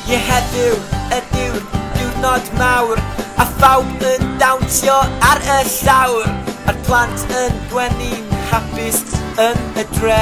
Ie heddiw ydyw diwrnod mawr A phawb yn dawnsio ar y llawr A'r plant yn gwenu'n hapus yn y dre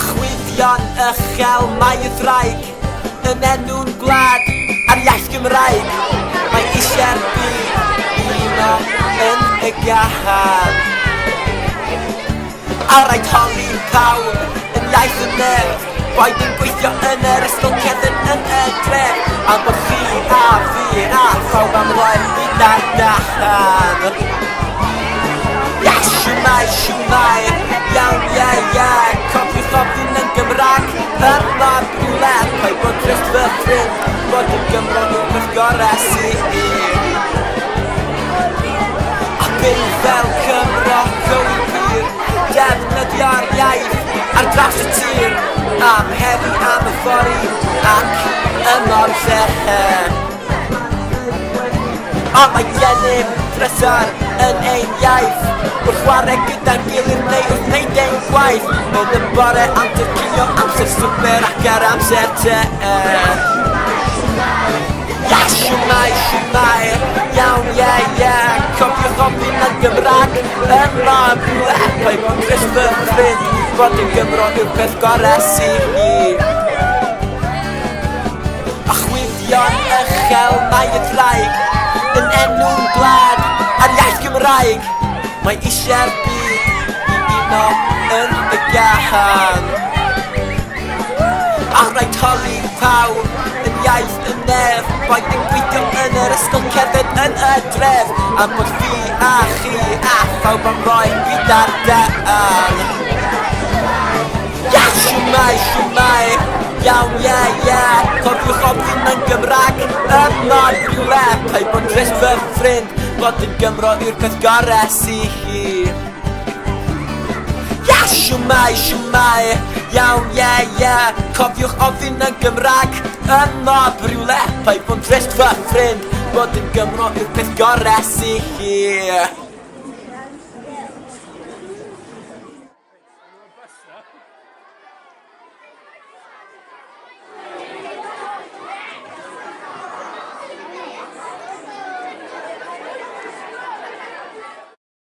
Chwyddion uchel mae y ddraig Yn enw'n gwlad a'r iaith Gymraeg Mae eisiau'r byd uno yn y gahad A rhaid holi pawb yn iaith y nef Rhaid ein gweithio yn yr ysgol cefn yn y dre Am bod chi a fi a phawb am roi'r byd allan Yes, siwmai, siwmai, iawn, ie, ie Cofiwch ofyn yn Gymraeg, fel mab rhywle Rhaid bod grefft fy ffrind, bod yn Gymro yw'r peth gorau sydd gyd A byw fel Cymro, go i gwir Defnyddio'r iaith ar draws y tir am heddi am y fory ac y mor llechen Ond mae gennym drysor yn ein iaith Wrth chwarae gyda'n gilydd neu wrth wneud ein gwaith Yn y bore am dyrcinio amser swper ac ar amser te Ia, siwmai, siwmai, iawn, ie, ie Cofiwch ofyn yn Gymraeg Er mae pethau mewn Cristnfydd, bod yn Gymro yw'r peth gore sy hi. A chwifio'n uchel mae y traig, yn enw'n gwlad a'r iaith Gymraeg. Mae eisiau'r byd i uno yn y gahan. A rhaid torri pawb yn iaith Neb rhaid dim gweithio yn yr ysgol cerdded yn y dref Am bod fi a chi a phawb am roi fi dardal Ia shwmae shwmae iawn ie ie Cofiwch ofyn mewn Gymraeg y mor rhywle Paid bod yn drist fy ffrind bod yn Gymro yw'r peth gore sy hi Shwmai, shwmai, iawn, ie, yeah, ie yeah. Cofiwch ofyn yn Gymraeg Yn mob rhywle, pai bod drist fy ffrind Bod yn Gymro yw'r peth gorau sy chi